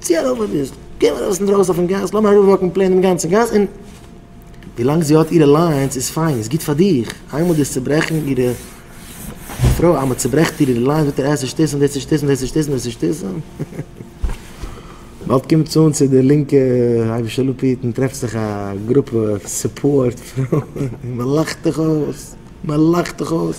צי אַ רבֿ ביסט? גיי אַרױס אין דרױסן אױפֿן גאַס, לאָז מיר אַראָפּװאַקן פּלעין דעם גאַנצן גאַס און. װי לאַנג זי האָט אירע לײַנס, איז פֿײַן, איז גוט פֿאַר דיך. אײנמאָל דאָס צעברעכן אירע. פֿרױ, אײנמאָל צעברעכט איר אירע לײַנס, װעט איר עס שטוסן, װעט זי שטוסן, װעט זי שטוסן, װעט זי שטוסן. באַלד קומט זי אָן צו דער לינקע אײבערשטער לפיד און טרעפֿט זיך אַ גרופּע סופּאָרט פֿרױען און מע לאַכט דיך אױס, מע לאַכט דיך אױס.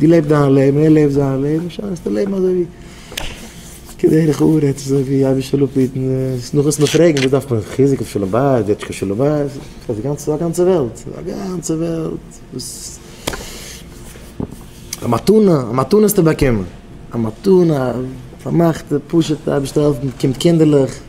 דו לעב דיין לעבן, ער לעבט זיין לעבן, זאלסטו לעבן אזוי ווי כדרך ארץ, אזוי ווי אבי שלום פיטן, עס נאך עס נאך פרעגן וואס דארף מען חיזוק אויף שלום בית, וועט שוין קיין שלום בית, ס'איז א גאנצע, א גאנצע וועלט, א גאנצע וועלט וואס, א מתנה, א מתנה האסטו באקומען, א מתנה, א פארמאכטע פשוט'ע אייבערשטער העלפט, מען באקומט קינדערלעך.